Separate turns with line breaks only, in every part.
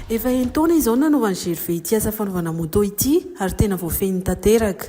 Efa enin-taona izao no nanovan'i Gervais ity asa fanaovana moto ity ary tena voafehiny tanteraka.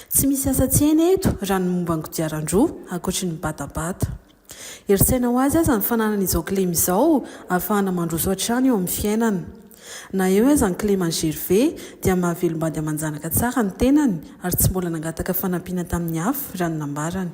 Tsy misy asa tsy hainy eto raha ny momba ny kodiaran-droa, ankoatry ny batabata. Herin-tsaina ho azy aza ny fananany izao kilema izao ahafahana mandroso hatrany eo amin'ny fiainana. Na eo aza ny kilema an'i Gervais dia mahavelom-bady aman-janaka tsara ny tenany ary tsy mbola nangataka fanampiana tamin'ny hafa raha ny nambarany.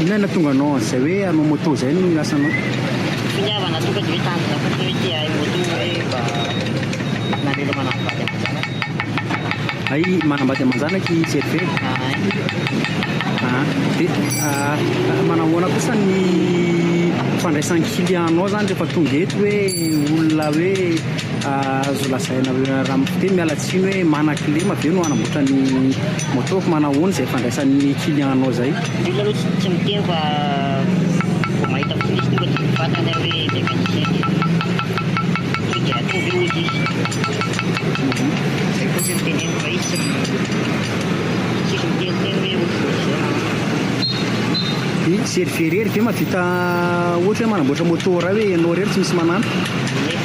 Inona
no nahatonga anao an'izay hoe hanao moto izay no hiasa anao? Finiavana tonga dia hoe tanjona fotsiny hoe te hahay
moto hoe mba nameloma anà vady aman-janaka.
Hay manambady aman-janaka i Serge e. Ahay. Ah, dia ah, manao ahoana kosa ny fandraisan-kilianao izany rehefa tonga eto hoe olona hoe Azo lazaina hoe raha mifiteha miala tsiny hoe mana kilema ve no hanamboatra ny moto fa manao ahoana izay fandraisan'ny client nao izay? Olona aloha tsy tsy miteny fa vao mahita prise tonga
de mivantana hoe mécanicien de tonga de ataovy eo ozy izy zay fotsiny no teneniko fa izy tsy tsisy miteniteny hoe otriny zao na Ny
zerivery irery ve mahavita ohatra hoe manamboatra moto raha hoe ianao irery tsy misy manana?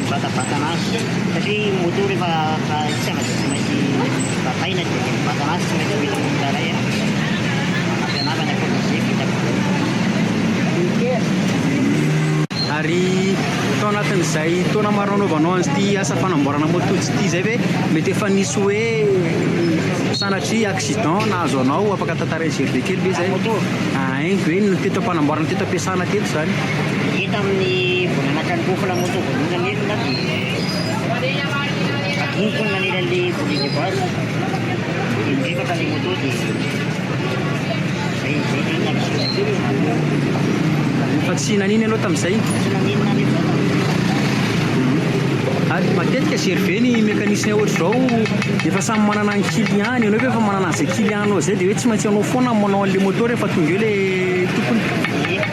Mivatabatana azy satria ny moto rehefa tsy afaka tsy maintsy bataina dia mivatabatana azy tsy maintsy
ho hitan'ny olona iray aho mampianarana fa izay vitako daholo. Ary tao anatin'izay taona maro nanaovanao an'ity asa fanamboarana moto tsy ity izay ve mety efa nisy hoe sanatria accident nahazo anao afaka tantarain'i GRD kely ve izay? Haingo e ny teto am-panamboarana teto am-piasana teto izany. Hita amin'ny
vao nanatitra ny Kofona Moto voalohany ny Enina dia adinoko ny nanely an'ilay Volley de Base dia niripaka ilay Moto dia izay izay
dia nanisoa. Fa tsy nanino ianao tamin'izay? Tsy nanino na nino
na tamin'izay.
Ary matetika jery ve ny mécanicien ohatr'izao efa samy manana ny kiliany, ianao koa efa manana an'izay kilianinao izay dia hoe tsy maintsy ianao foana manao an'ilay Moto rehefa tonga eo ilay tompony? Ie.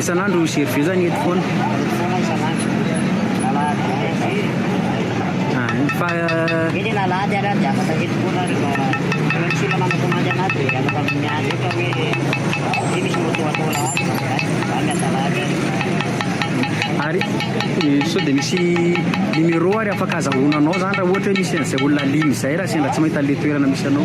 Isan'andro misy hery be zany eto foana. Fa ary sao dia misy numéro ary afaka azahoana anao zany raha ohatra hoe misy an'izay olona liana izay raha sendra tsy mahita an'ilay toerana misy anao.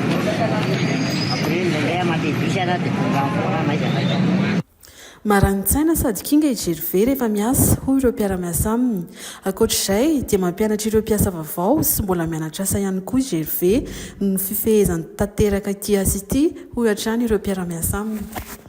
Marani-tsaina sady kinga i Gervais rehefa miasa, hoy ireo mpiara-miasa aminy. Ankoatra izay, dia mampianatra ireo mpiasa vaovao sy mbola mianatra asa ihany koa i Gervais noho ny fifehezany tanteraka ity asa ity, hoy hatrany ireo mpiara-miasa aminy.